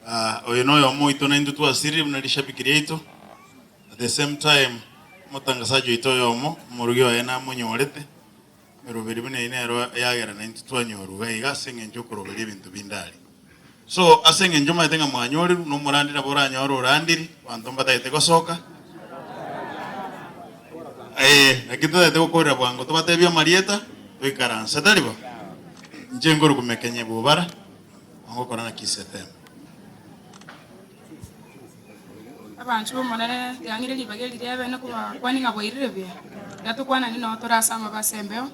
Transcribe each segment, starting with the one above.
Ah, oyo noyomo oito naintwe twasirie buna rishabiki riaito. At the same time, omotangasaji oito oyomo, omorugi oye namonyorete. Eroberio buna eye nero eyagera naintwe twanyorwa, iga ase engencho y'okoroberia ebinto binde aria. So, ase engencho omaete ng'a mwanyorirwe, nomorandi nabo oranyore orandiri, abanto mbatagete gosoka, ee, lakini totagete gokorera bwango, tobatebia amarieta, toikaranse, tari bo? Inche nkorukumekenya ebubara, ongokora ng'aki Setemo. Abanchwa b'Omonene, yang'ire ribaga eri ri'Eebe na kobakwane ng'a boirire buya, na tokwanane nao tore ase amabe ase embeo,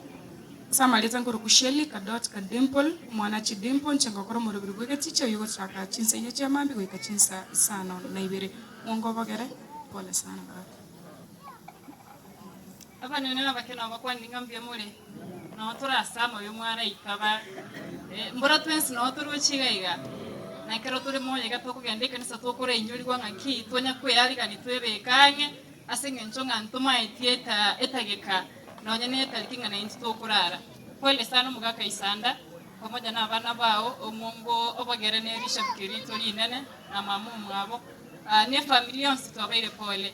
ase amarieta nkorokwa Shelley, Kadotka, Dimple, omwana Chidimpo, inche ngokora omorobiri bw'egechichi oyio ogochaka chinsa inye chia maambia goika chinsa isano na ibere. Mwongo obogere. Pole sana brother. Abanene nabake nao bakwanire ng'a mbuya more. Nao tore ase amabe y'omwaraika bare, mbora twensi nao toroche iga iga. Nekero tore moyo iga tokogenda ekanisa tokorainyorigwa ng'aki tonya kwearigania twebeke ang'e, ase engencho ng'a ntomaetie etageka nonya netariki ng'a naintwe tokorara. Kweri sana omogaka Isanda, pamoja n'abana bao, omwongo obogere nerishabiki rito rinene, na mama omwabo, na efamiri yonsi twabaire pole.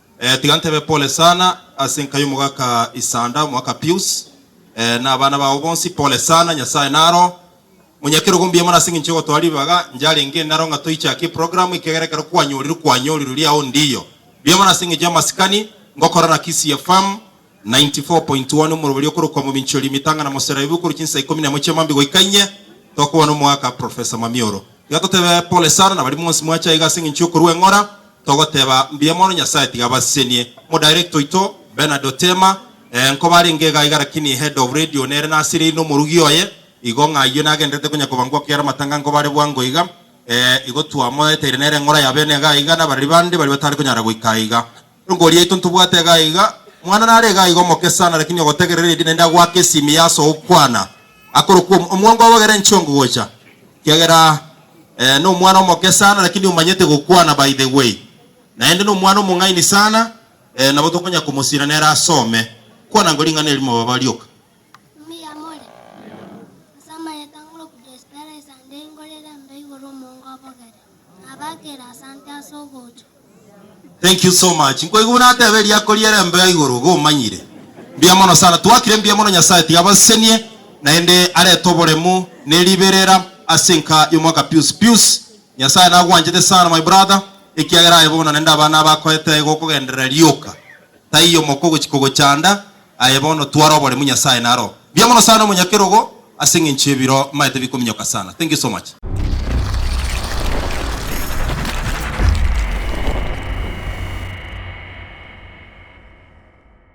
Eh, tiga ntebe pole sana ase enka y'omogaka Isanda, omogaka Pius, eh, na abana babo bonsi, pole sana, Nyasae naro monyakerogo mbuya mono ase engencho y'ogotoa ribaga, njarenge naro ng'a toichake eprogramu ekiagera ekero kwanyorirwe kwanyorirwe riao ndiyo. Mbuya mono ase engencho y'amasikani, ngokora na Kisii FM, 94.1 Omorwori okorokwa Mominchori Mitang'a na Moseraibu okorwa chinsa ikomi na emo chia mambia goika inye tokobana omoaka Professor Mwamioro. Tiga totebe pole sana na baria mwonsi mwache aiga ase engencho y'okorua eng'ora, togoteba mbuya mono Nyasaye tiga abasesenie. Omo Director oito Bernard Otema, Ee nkoba arenge iga iga lakini Head of Radio nere nasiririe na omorugi oye igo ng'a ayio nagenderete konya kobangwa kiara amatanga nkoba are bwango iga ee igo twamoeteire nere eng'ora yabene iga iga nabareri bande baria batare konyara goika aiga. Eriogo riaito ntobwate iga iga, mwana nare iga iga omoke sana lakini ogotegerera eria naende agoake esimi ya ase ogokwana akorokwa omo- omwango obo ogere nchie ongo gocha ekiagera eh, nomwana omoke sana lakini omanyete gokwana by the way naende nomwana omong'aini sana eh, nabo tokonya komosira nere asome kwana ngo ring'ana erimo baba rioka. Mbuya more. Ase amayete ang'oroku Desperais ande ingorere mbe igoro omongo obogere. Abakere asante ase ogocha. Thank you so much nkoigwa buna ateba eriako riere mbe ya igoro iga omanyire. Mbuya mono sana twakire mbuya mono nyasaye tiga abasesenie naende arete oboremu ne riberera ase enka yomwaka pius pius nyasaye nagwanchete sana my brother ekiagera aye bono naende abana abakoete aye gokogenderera rioka taiyo moko ogochika ogochanda Aye bono tware oboremu Nyasaye naro. Mbuya mono sana omonyakerogo ase eng'encho y'ebiro maete bikominyoka sana. Thank you so much.